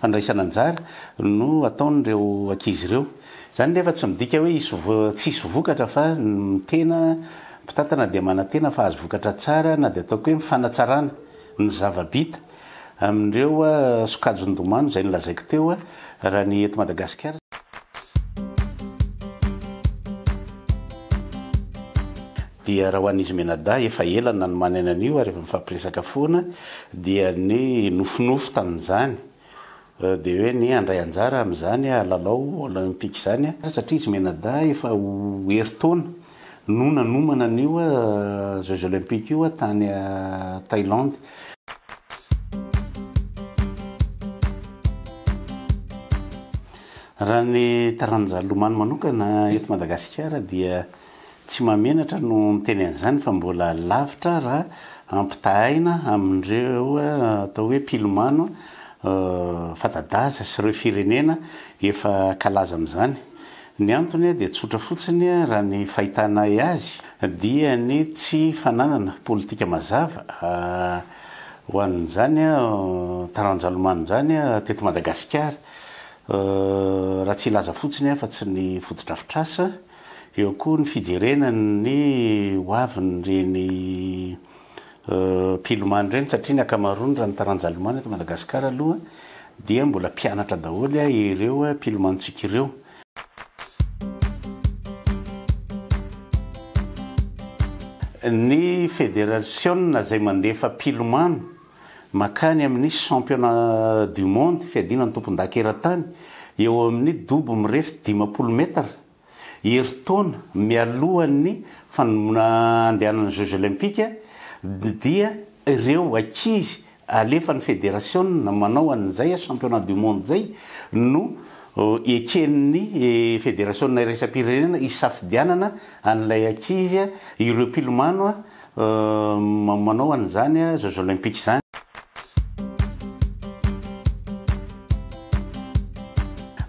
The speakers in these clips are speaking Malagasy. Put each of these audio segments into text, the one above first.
Fandraisana anjara no ataon'ireo ankizy ireo. Izany nefa tsy midika hoe hisy tsy hisy vokatra fa ny tena mpitantana dia manantena fa hahazo vokatra tsara na dia ataoko hoe mifanatsarana ny zava-bita amin'ireo sokajy ndomano izay nolazaiko teo raha ny eto Madagasikara Dia raha ho an'izy mianadahy efa ela no nanomanany an'io ary efa nifampiresaka foana dia ny nofinofy tamin'izany dia hoe ny handray anjara amin'izany lalao olympique izany satria izy mianadahy efa ho herintaona no nanomana an'io jeux olympiques io tany Thaïlande. Raha ny taran'ny Njalomano manokana eto Madagasikara dia Tsy mahamenatra no miteny an'izany fa mbola lavitra raha ampitahaina amin'ireo atao hoe mpilomano fanta-daza sy ireo firenena efa kalaza amin'izany. Ny antony dia tsotra fotsiny raha ny fahitanay azy dia ny tsy fananana politika mazava ho an'izany taranja lomano izany teto Madagasikara. Raha tsy hilaza fotsiny aho fa tsy ny fotodrafitrasa. Eo koa ny fijerena ny ho avin'ireny mpilomano ireny satria ny ankamaroany raha ny taranja lomano eto Madagasikara aloha dia mbola mpianatra daholo ireo mpilomanontsika ireo. Ny federasiona izay mandefa mpilomano. Mankany amin'ny Championnat du Monde, fiadiana ny tompondaka eran-tany, eo amin'ny dobo mirefy dimampolo metatra, herintaona mialohan'ny fanomboana handehanan'ny Jeux Olympiques, dia ireo ankizy alefan'ny federasiona manao an'izay Championnat du Monde izay no eken'ny federasiona iraisam-pirenena hisafidianana an'ilay ankizy, ireo mpilomano. Uhm manao an'izany a jeux olympiques zany.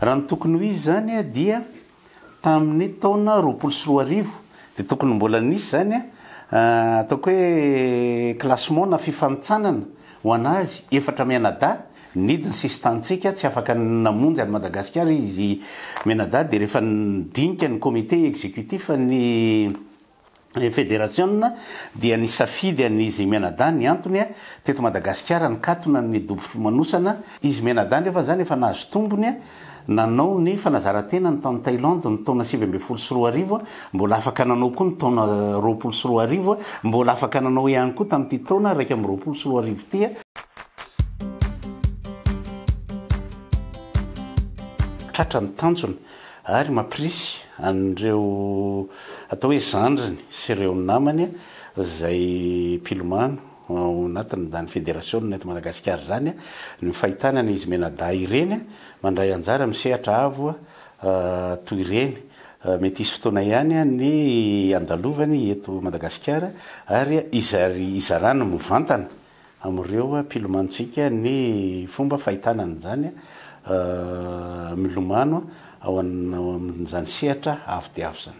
Raha ny tokony ho izy zany dia tamin'ny taona roapolo sy roa arivo dia tokony mbola nisy zany ataoko hoe classement na fifanintsanana ho an'azy efatra mianadahy nidy ny sisin-tanintsika tsy afaka namonjy an'i Madagasikara izy mianadahy dia rehefa nidinika ny comité exécutif ny ny federasiona dia nisafidy an'i Izy Mianadahy ny antony, teto Madagasikara nikatona ny dobo fimanosana, Izy Mianadahy nefa izany efa nahazo tombony, nanao ny fanazaran-tenany tany Thailand ny taona sivy ambin'ny folo sy roa arivo, mbola afaka nanao koa ny taona roapolo sy roa arivo, mbola afaka nanao ihany koa tamin'ity taona iraika amby roapolo sy roa arivo ity. Tratra ny tanjona, ary mampirisy an'ireo atao hoe zandriny sy ireo namany izay mpilomano ao anatin'izany federasiona eto Madagasikara izany ny fahitana an'izy mianadahy ireny mandray anjara amin'ny sehatra avo toy ireny. Mety hisy fotoana ihany ny handalovany eto Madagasikara ary hizarany mivantana amin'ireo mpilomantsika ny fomba fahitana an'izany milomano ao amin'izany sehatra avo dia avo izany.